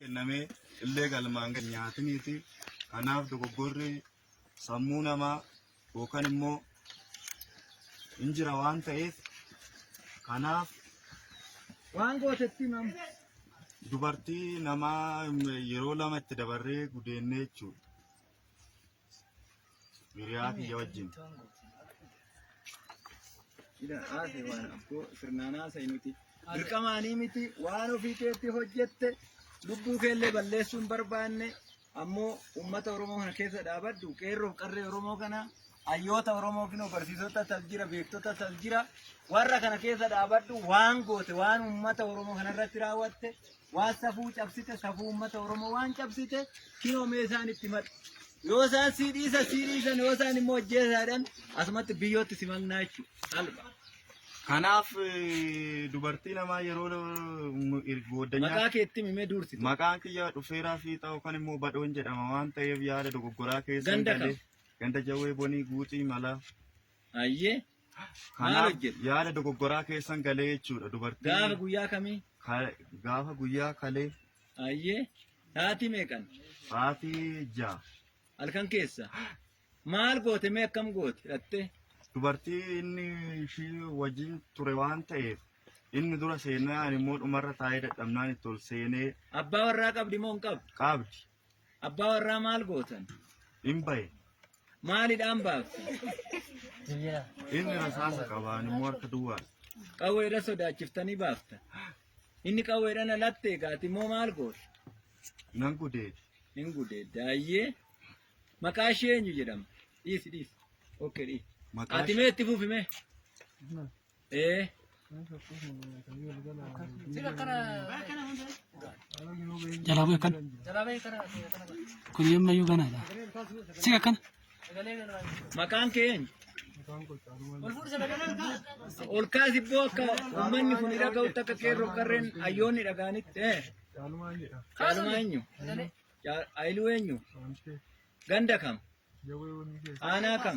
kenname illee galmaan kan nyaatiniiti. Kanaaf dogoggorri sammuu namaa yookaan immoo hin jira waan ta'eef kanaaf Waan gootetti nam. dubartii namaa yeroo lama itti dabarree gudeennee jechuudha. Hiriyaa kiyya wajjin. Ila haase waan abboo sirnaan haasa'e nuti. Dirqamaanii miti waan ofii keetti hojjette lubbuu keellee balleessuu hin barbaanne ammoo uummata Oromoo kana keessa dhaabadhu qeerroof qarree Oromoo kana hayyoota Oromoo kinoo barsiisota tal jira beektota tal jira warra kana keessa dhaabadhu waan goote waan uummata Oromoo kana irratti raawwatte Waan safuu cabsite safuu uummata Oromoo waan cabsite kinoo mee isaan itti himadhu. Yoo isaan sii dhiisa sii dhiisan yoo isaan immoo ajjeesaadhaan asumatti biyyootti si maknaa jechuudha. Salpha. Kanaaf eh, dubartii namaa yeroo nu- ir- Maqaa goddanyaa keetti mimee duursite. maqaan kiyya dhufeeraa fiixaa yookaan immoo badhoon jedhama waan ta'eef yaada dogoggoraa keessa Ganda kam? ganda jawwee bonii guuxii malaa Ayyee Maal Kanaaf hojjete? yaada dogoggoraa keessan galee jechuudha Gaafa dubartiin guyyaa kamii? ka- gaafa guyyaa kalee Ayyee. Sa'aatii meeqan? sa'aatii ja'a Halkan keessa. Maal goote mee akkam goote? Dhattee. dubartii inni ishii wajjin ture waan ta'eef inni dura seenaa ani immoo dhumarra taa'ee dadhabnaan itti ol seenee Abbaa warraa qabdi moo hin qabdu? qabdi Abbaa warraa maal gootan? Hin bahe. Maalidhaan baafte? Inni rasaasa qaba, ani immoo harka duwwaadha. Qawweedha sodaachiftanii baafta. Inni qawweedhaan alatti eegaati immoo maal goote? Nan gudeede. Hin gudeedda. Ayyee. Maqaa ishee eenyu jedhama? Dhiisi dhiisi. Okkee dhiisi. Maqaa Ati mee itti fufi mee. Eh. Jalaa bu'e kan. Kun yemma yuu ganaadha. Sika kan. Maqaan kee eenyu? Ol kaasi boo akka uummanni kun dhaga'utti akka qeerroo qarreen hayyoonni dhaga'anitti. Eh. Caalumaan jedha. Caalumaa eenyu? Caa- Ayiluu eenyu? Wantee Ganda kam? jawwee wanni keessa. Aanaa kam?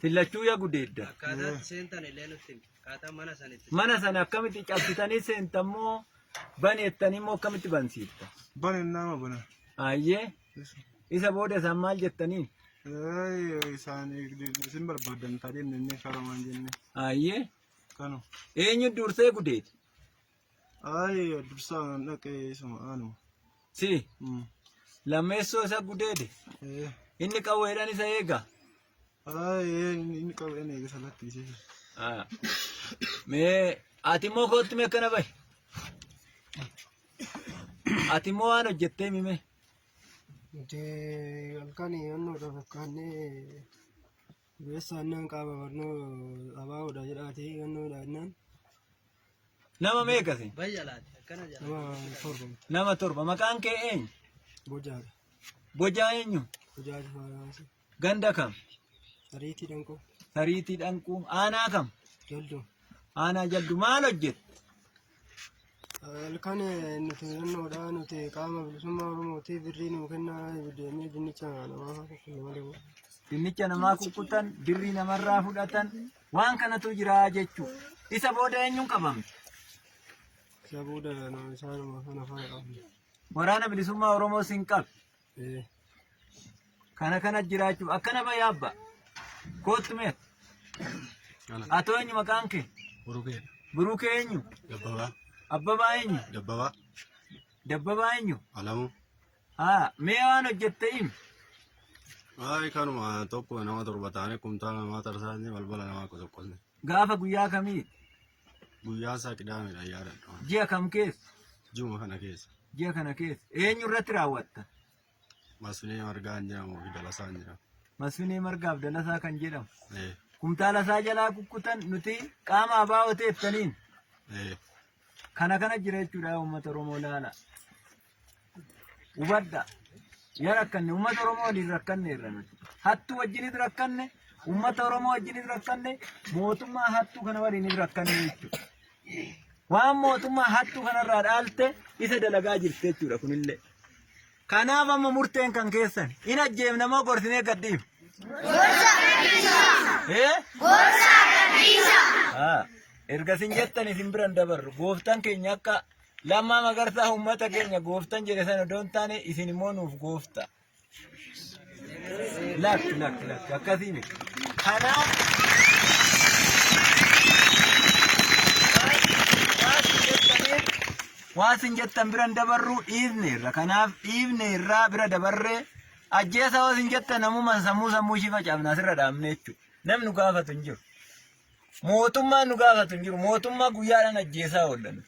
Fillachuu yaa gudeedda. Akkaataa itti seentan illee nutti himi. Akkaataa mana sana itti Mana sana akkamitti cabsitanii seentan moo baneettanii moo akkamitti bansiifta? Bane nama bana. Ayyee isa booda isaan maal jettaniin? Ee, Isaan isin barbaadan taatee inni inni karamaan jenne. Ayyee Kanu. eenyu dursee gudeeti? Ayi dursaa nan dhaqee isuma aanuma. Si Mm. lammeessoo isa gudeede Eh. inni qawweedhaan isa eega. Ayi inni inni qabeen eegisa lakkiisee. Ah. Mee ati immoo kootti mee akkana bahi. Ati immoo waan hojjettee mime. Nuti halkan yoonnuudha fakkaannee beessa annaan qaama barnoo abaawoodha jedhaati yoonnuudha annaan Nama meeqa isin? Nama torba. Maqaan kee eenyu? Bojaadha. Bojaa eenyu? Bojaa Jifaaraansi. Ganda kam? Ariitii Dhanqoo. Tariitii dhanquu. Aanaa kam? Jalduu. Aanaa jaldu maal hojjette? Halkan nuti naannoodha nuti qaama bilisummaa Oromootiif birrii nuu kennaa deemee dinnicha namaa fakkaatu malee. Dinnicha namaa kukkutan, birrii namarraa fudhatan, Waan kanatu jira jechu. Isa booda eenyuun qabame? Isa booda isaanuma kana faana qabame. Waraana bilisummaa Oromoo sin qabe. Eh. Kana kana jiraachuuf akkana bayyaa abbaa. Kootu mee. Atoo eenyu maqaan kee? Burukee. Burukee eenyu? Dabbabaa. Abbabaa eenyu? Dabbabaa. Dabbabaa eenyu? Alamuu. Haa, mee waan hojjette himi. Ay kanuma tokko nama torba taane kumtaala namaa tarsaasne balbala namaa qosoqqosne. Gaafa guyyaa kamii? Guyyaa isaa qidaamedha yaadadha. Ji'a kam keessa? Juma kana keessa. Ji'a kana keessa. Eenyu irratti raawwatta? Masfinee margaa hin jedhamu fi dalasaa hin jedhamu. Masfinee margaaf dalasaa kan jedhamu. Eh, Kumtaala isaa jalaa kukkutan nuti qaama abaa oteettaniin eh. kana kana jira jechuudha uummata Oromoo laala. Hubadhaa. Yaa rakkanne uummata Oromoo waliin rakkanne irra nuti. Hattuu wajjinis rakkanne, uummata Oromoo wajjinis rakkanne, mootummaa hattuu kana waliinis rakkanne jechuudha. Waan mootummaa hattuu kanarraa dhaalte isa dalagaa jirti jechuudha kunillee. Kanaaf amma murteen kan keessan hin ajjeefna moo gorsinee gadhiif? Ee? Haa. Erga isin jettan isin biran dabarru gooftan keenya akka Lammaa Magarsaa uummata keenya gooftan jedhe sana odoo hin taane isin immoo nuuf goofta. Lakki lakki lakki akkasii miti. Kanaaf waan isin jettan biran dabarru dhiifne irra kanaaf dhiifne irraa bira dabarree ajjeesa waan isin jettan namumaan sammuu sammuu ishii facaafna asirra dhaabne jechuudha. Namni gaafatu hin jiru. Mootummaan nu gaafatu hin jiru. Mootummaa guyyaadhaan ajjeesaa oollan.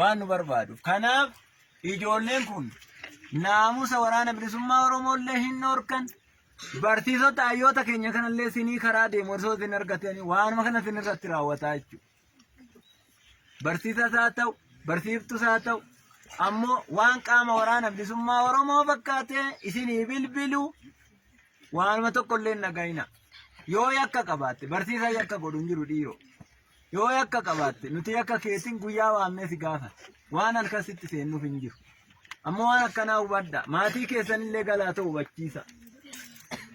Waan nu barbaadu. Kanaaf ijoolleen kun naamusa waraana bilisummaa Oromoollee hin dhorkan. Barsiisota hayyoota keenya kanallee sinii karaa deemu osoo isin argatanii waanuma kana isin irratti raawwataa jechuudha. barsiisas haa ta'u, barsiiftus haa ta'u, ammoo waan qaama waraana bilisummaa Oromoo fakkaatee isinii bilbilu waanuma tokko illee hin dhaga'ina. Yoo yakka qabaatte barsiisa yakka godhu hin jiru dhiiroo. Yoo yakka qabaatte nuti yakka keetiin guyyaa waamnee si gaafata. Waan halkan sitti seennuuf hin jiru. Ammoo waan akkanaa hubadha. Maatii keessan illee galaatoo hubachiisa.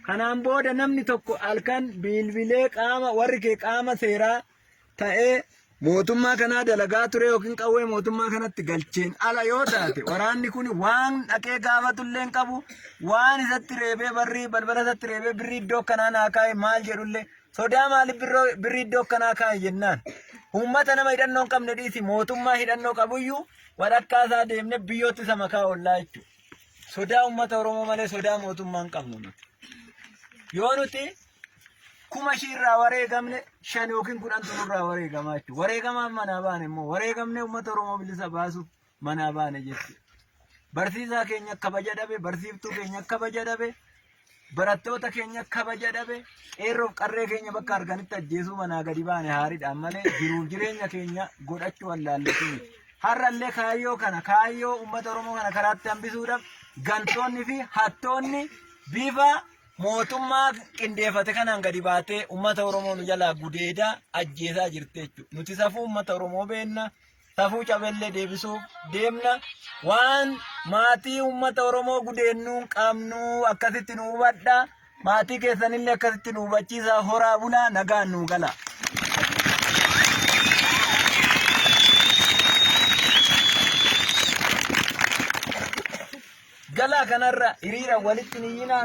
Kanaan booda namni tokko halkan bilbilee qaama warri kee qaama seeraa ta'ee mootummaa kanaa dalagaa ture yookiin qawwee mootummaa kanatti galcheen ala yoo taate waraanni kun waan dhaqee gaafatullee hin qabu waan isatti reebee barrii balbala isatti reebee birrii iddoo kanaa naa kaa'e maal jedhullee sodaa maaliif birroo- birrii iddoo kanaa kaa'e jennaan uummata nama hidhannoo hin qabne dhiisi mootummaa hidhannoo qabuyyuu walakkaa isaa deemne biyyootti isa makaa ollaa jechuudha sodaa uummata oromoo malee sodaa mootummaa hin qabnu nuti yoo nuti kuma ishiirraa wareegamne shan yookiin kudhantu nurraa wareegamaa jechuudha. Wareegamaaf manaa baane immoo wareegamne uummata Oromoo bilisa baasuuf manaa baane jechuudha. Barsiisaa keenya kabaja dhabe, barsiiftuu keenya kabaja dhabe, barattoota keenya kabaja dhabe, qeerroof qarree keenya bakka arganitti ajjeesuu manaa gadi baane haaridhaan malee jiruuf jireenya keenya godhachuu wallaalletu miti. Har'allee kaayyoo kana kaayyoo uummata Oromoo kana karaatti hambisuudhaaf gantoonni fi hattoonni bifa mootummaa qindeeffate kanaan gadi baatee uummata Oromoo nu jalaa gudeedaa ajjeesaa jirti jechuudha. Nuti safuu uummata Oromoo beenna safuu cabellee deebisuuf deemna waan maatii uummata Oromoo gudeennuun qabnu akkasitti nu hubadha. Maatii keessanillee akkasitti nu hubachiisa horaa bulaa nagaan nu gala. Galaa kanarra hiriira walitti niyyinaa